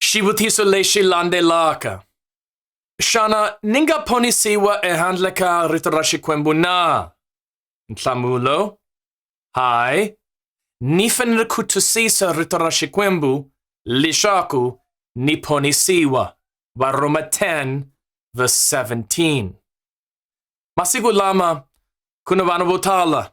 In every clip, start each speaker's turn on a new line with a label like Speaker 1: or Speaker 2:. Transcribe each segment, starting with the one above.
Speaker 1: Shibutiso le shilande laka. Shana ninga poni siwa e handla ka rito ra Xikwembu na? Nhlamulo, Hi, ni fanele ku twisisa rito ra Xikwembu leswaku ni ponisiwa. Varhoma 10 verse 17. Masiku lama ku na vanhu vo tala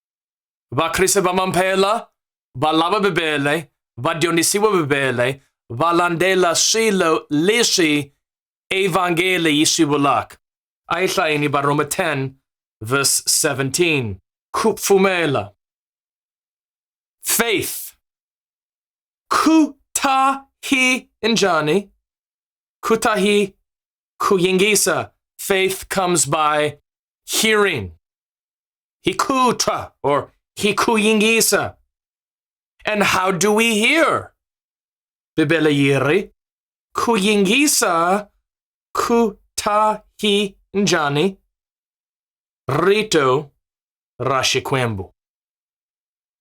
Speaker 1: va khrisa va mamphela va lava bibele va dyondzisiwa bibele va landzela swilo leswi evhangeli yi swi vulaka a yi hlayini varhoma 10 verse 17 ku pfumela faith ku ta hi njhani ku ta hi ku yingisa faith comes by hearing He kuta or he kuyingisa. And how do we hear? Bibele yiri kuyingisa kuta hi njani rito rashikwembu.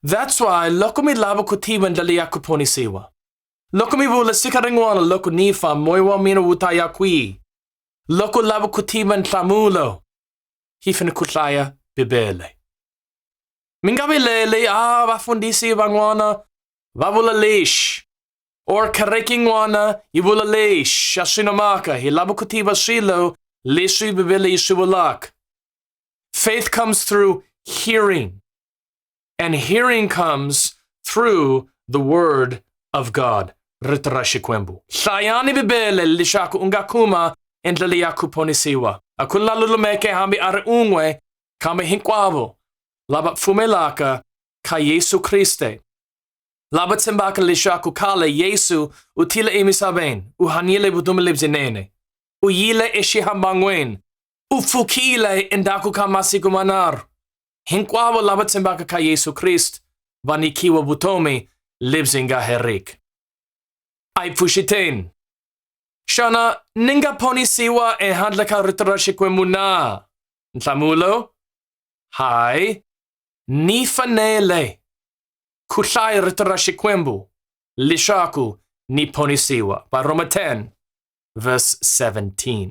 Speaker 1: That's why loko mi lava ku tiva ndlela ya ku ponisiwa. Loko mi vula siku rin'wana loko ni fa moya wa mina wu ta ya kwihi? Loko lava ku tiva nhlamulo hi fanele ku hlaya Bibele. Mi nga vileli, ah, vafundhisi van'wana va vula lexi, or kereke yin'wana yi vula lexi, a swi na mhaka, hi lava ku tiva swilo leswi Bibele yi swi vulaka. Faith comes through hearing. And hearing comes through the word of God. Ritarashikwembu. Shayani bibele lishaku ungakuma endlali yakuponisiwa. Akula lulumeke hami are ungwe kame hinkwavo lava pfumelaka ka Yesu Kriste. Lava tshembaka leswaku khale Yesu u tile emisaveni, u hanyile vutomi lebyinene, u yile exihamban'weni, u pfukile endzhaku ka masiku manharhu, Hinkwavo lava tshembaka ka Yesu Krist va nikiwa vutomi lebyi nga heriki. A yi pfuxiteni. Xana ni nga ponisiwa ehandle ka rito ra Xikwembu na? Nhlamulo, Hayi. Ni fanele ku hlaya rito ra Xikwembu leswaku ni ponisiwa. Varhoma 10 verse 17.